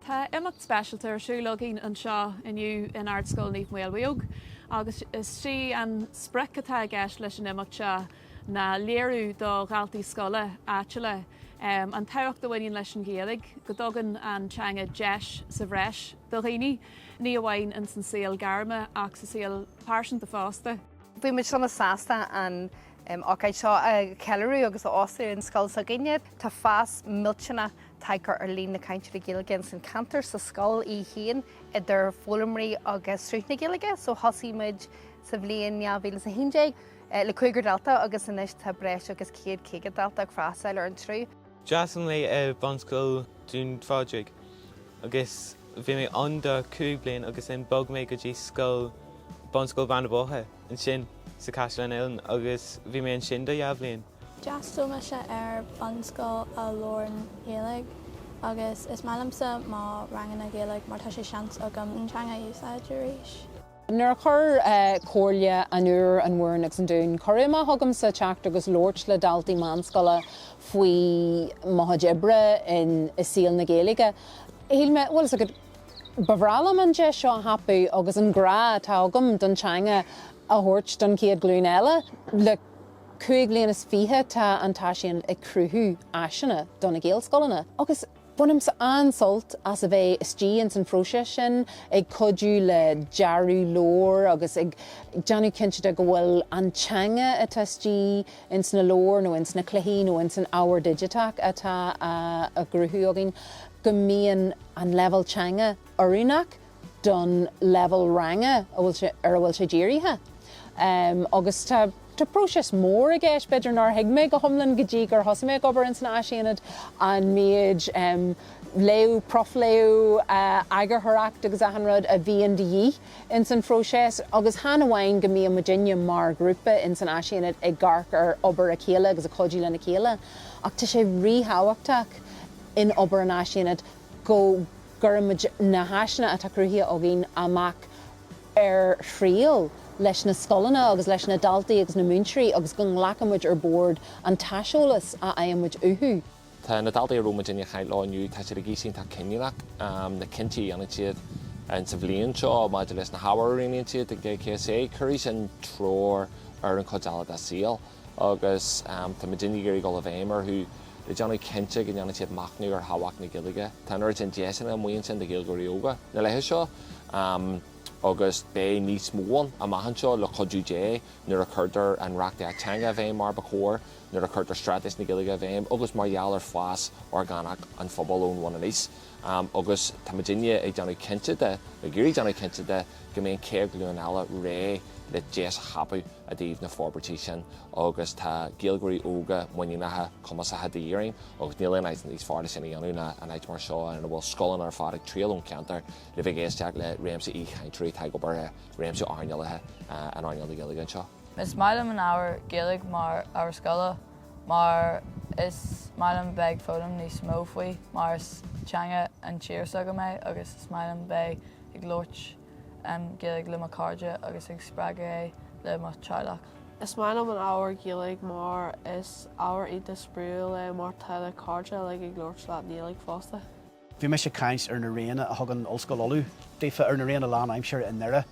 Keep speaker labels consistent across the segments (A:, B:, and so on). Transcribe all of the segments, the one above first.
A: Tá imeacht speisialta ar siúl againn anseo inniu in Ardscoil Naomh Maolmhaodhóg agus is sí an sprioc atá i gceist leis an imeacht seo ná léiriú do dhaltaí scoile áitiúla an tábhacht a bhaineann leis an Ghaeilge, go dtugann an teanga deis sa bhreis do dhaoine, ní amháin ins an saol gairme ach sa saol pearsanta fosta. Bhí muid sona
B: sásta an An ócáid seo a cheiliúradh agus a óstáil in scoil s'againne, tá fás millteanach tagtha ar líon na cainteoirí Gaeilge ins an ceantar, sa scoil í féin, idir foghlaimeoirí agus sruth na Gaeilge. So thosaigh muid sa bhliain 2011 le cúigear dalta agus anois tá breis agus 150 dalta ag freastáil ar an tsruth. D'fhreastail mé
C: ar Bhunscoil Dún Phádraig agus bhí mé ann do chúig bliain agus ansin bhog mé go dtí scoil Bunscoil Bheanna Boirche ansin sa Caisleán Uidhilín agus bhí mé ansin do dhá bhliain. D'fhreastail
D: mise ar bhunscoil lán-Ghaeilge agus is maith liomsa mo ranganna Gaeilge mar tá sé seans agam an teanga a úsáid arís. Nuair a
E: chuir Comhairle an Iúir, an Mhúrn agus an Dúin cuireadh amach chugamsa teacht agus labhairt le daltaí meánscoile faoi mo chuid oibre i saol na Gaeilge, shíl mé, bhfuil 'fhios agat, ba bhreá liom an deis seo a thapú agus an grá atá agam don teanga a thabhairt don chéad ghlúin eile. Le cúig bhliain is fiche tá an tÁisaonad ag cruthú áiseanna do na Gaelscoileanna agus, Bainimse an-sult as a bheith istigh ins an phróiseas sin, ag cuidiú le dearadh leabhar agus ag déanamh cinnte de go bhfuil an teanga atá istigh ins na leabhair nó ins na cluichí nó ins an ábhar digiteach atá á gcruthú againn, go mbíonn an leibhéal teanga oiriúnach don leibhéal ranga ar a bhfuil sé dírithe. Agus tá próiseas mór i gceist, b'fhéidir nár thuig mé go hiomlán go dtí gur thosaigh mé ag obair ins an Áisaonad an méid léamh, profléamh, eagarthóireacht agus achan rud a bhíonn de dhíth ins an phróiseas agus chan amháin go mbíonn muidinne mar ghrúpa ins an Áisaonad ag amharc ar obair a chéile agus ag cuidiú lena chéile ach tá sé ríthábhachtach in obair an Áisaonad go gcuireann muid na háiseanna atá cruthaithe againn amach ar thriail leis na scoileanna agus leis na daltaí agus na múinteoirí agus go nglacann muid ar bord an t-aiseolas a fhaigheann muid uathu. Tá na daltaí a
F: raibh muidinne ag caint leo inniu, tá siad ag aois iontach cinniúnach, na cinntí a dhéanann siad sa bhliain seo maidir leis na hábhair a roghnaíonn siad ag GCSE, cuirfidh sin treoir ar an chuid eile dá saol. agus tá muidinne ag iarraidh dul i bhfeidhm orthu le déanamh cinnte go ndéanann siad machnamh ar thábhacht na Gaeilge. Tá an oiread sin deiseanna amuigh ansin do Ghaeilgeoirí óga na laetha seo agus beidh níos mó ann amach anseo, le cuidiú Dé, nuair a chuirtear an reachtaíocht teanga i bhfeidhm mar ba chóir, nuair a chuirtear Straitéis na Gaeilge i bhfeidhm agus mar gheall ar fás orgánach an phobail ón bhun aníos. Am agus tá muid inniu ag déanamh cinnte de, nó ag iarraidh déanamh cinnte de, go mbeidh an chéad ghlúin eile réidh le deis a thapadh i dtaobh na forbairtí sin agus tá Gaeilgeoirí óga muiníneacha, cumasacha de dhíth orainn agus níl aon áit níos fearr le sin a dhéanamh ná in áit mar seo ina bhfuil scoileanna ar fad ag triall ón cheantar le bheith ag éisteacht le réimse aoichainteoirí atá ag obair i réimse earnálacha in earnáil na Gaeilge anseo. Is maith liom an ábhar
G: Gaeilge mar ábhar scoile mar is maith liom bheith ag foghlaim níos mó faoi, mar is teanga an tír s'agam é agus is maith liom bheith ag labhairt Gaeilge le mo cairde agus ag spreagadh é le mo teaghlach. Is maith liom
H: an ábhar Gaeilge mar is ábhar iontach spraíúil é mar tá do chairde uilig ag labhairt leat i nGaeilge fosta. Bhí mise
I: ag caint ar na ranganna a thugann Ollscoil Uladh daofa, ar na ranganna lánaimseartha i nDoire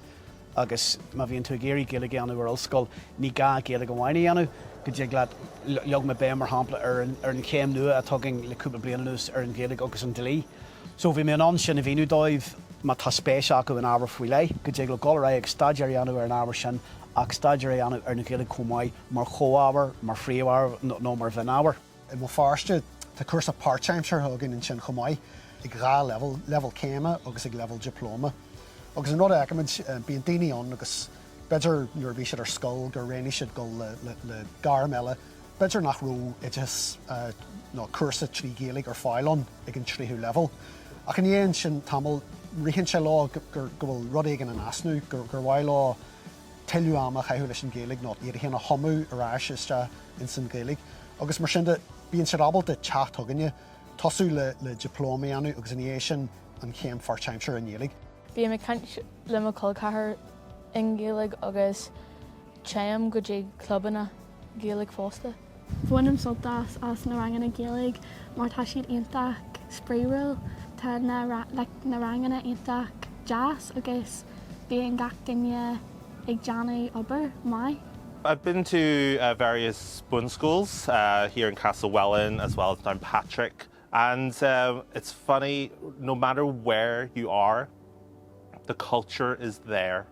I: agus má bhíonn tú ag iarraidh Gaeilge a dhéanamh ar Ollscoil, ní gá Gaeilge amháin a dhéanamh, go dtig leat, leag mé béim mar shampla ar an chéim nua atá againn le cúpla bliain anuas ar an Ghaeilge agus an Dlí. So bhí mé in ann sin a mhíniú dóibh, má tá spéis acu in ábhar faoi leith, go dtig leo dul ar aghaidh agus staidéar a dhéanamh ar an ábhar sin ach staidéar a dhéanamh ar an Ghaeilge chomh maith mar chomhábhar, mar phríomhábhar nó mar mhionábhar. I mBéal
J: Feirste, tá cúrsa páirtaimseartha againn ansin chomh maith, ag dhá leibhéal, leibhéal céime agus ag leibhéal dioplóma. Agus an rud a fheicimid, bíonn daoine ann agus b'fhéidir nuair a bhí siad ar scoil gur roghnaigh siad dul le gairm eile, b'fhéidir nach raibh oideachas nó cúrsa trí Ghaeilge ar fáil ag an tríú leibhéal. Ach i ndiaidh ansin tamall, ritheann sé leo go bhfuil rud éigin in easnamh, gur mhaith leo tuilleadh ama a chaitheamh leis an Ghaeilge nó iad féin a thumadh ar ais isteach ins an Ghaeilge agus mar sin de, bíonn siad ábalta teacht chugainne, tosú le dioplóma a dhéanamh agus ina dhiaidh sin an chéim pháirtaimseartha i nGaeilge. Bím ag
H: caint le mo chol ceathrair i nGaeilge agus téim go dtí clubanna Gaeilge fosta. Bainim sult
D: as na ranganna Gaeilge mar tá siad iontach spraíúil, tá na like na ranganna iontach deas agus bíonn gach duine ag déanamh obair maith. I've been to
K: various bunschoools here in Castlewellan as well as Downpatrick and it's funny no matter where you are the culture is there.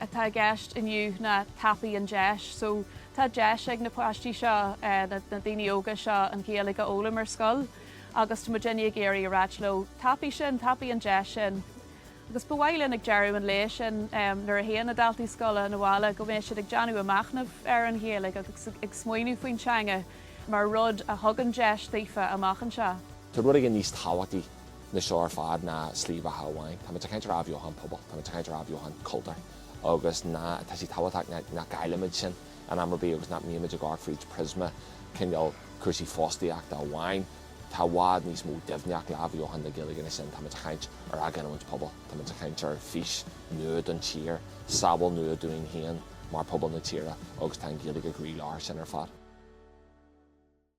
A: atá i gceist inniu ná tapaigh an deis. So, tá deis ag na páistí seo, na daoine óga seo, an Ghaeilge a fhoghlaim ar scoil agus tá muidinne ag iarraidh a ráit leo, tapaigh sin, tapaigh an deis sin. Agus ba mhaith linn ag deireadh an lae sin, nuair a théann na daltaí scoile 'na bhaile, go mbeidh siad ag déanamh a machnamh ar an Ghaeilge agus ag smaoineamh faoin teanga mar rud a thugann deis daofa amach anseo. Tá rud éigin níos
F: tábhachtaí na seo ar fad ná slí bheatha amháin. Táimid ag caint ar athbheochan pobail, táimid ag caint ar athbheochan cultúir agus tá sé tábhachtach nach gcaillfimid sin in am ar bith agus nach mbímid ag amharc fríd priosma cineál cúrsaí fostaíochta amháin. Tá i bhfad níos mó doimhneacht le athbheochan na Gaeilge ná sin. Táimid ag caint ar athghiniúint pobail, táimid ag caint ar fís nua don tír, samhail nua dúinn féin mar phobal na tíre agus tá an Ghaeilge i gcroílár sin ar fad.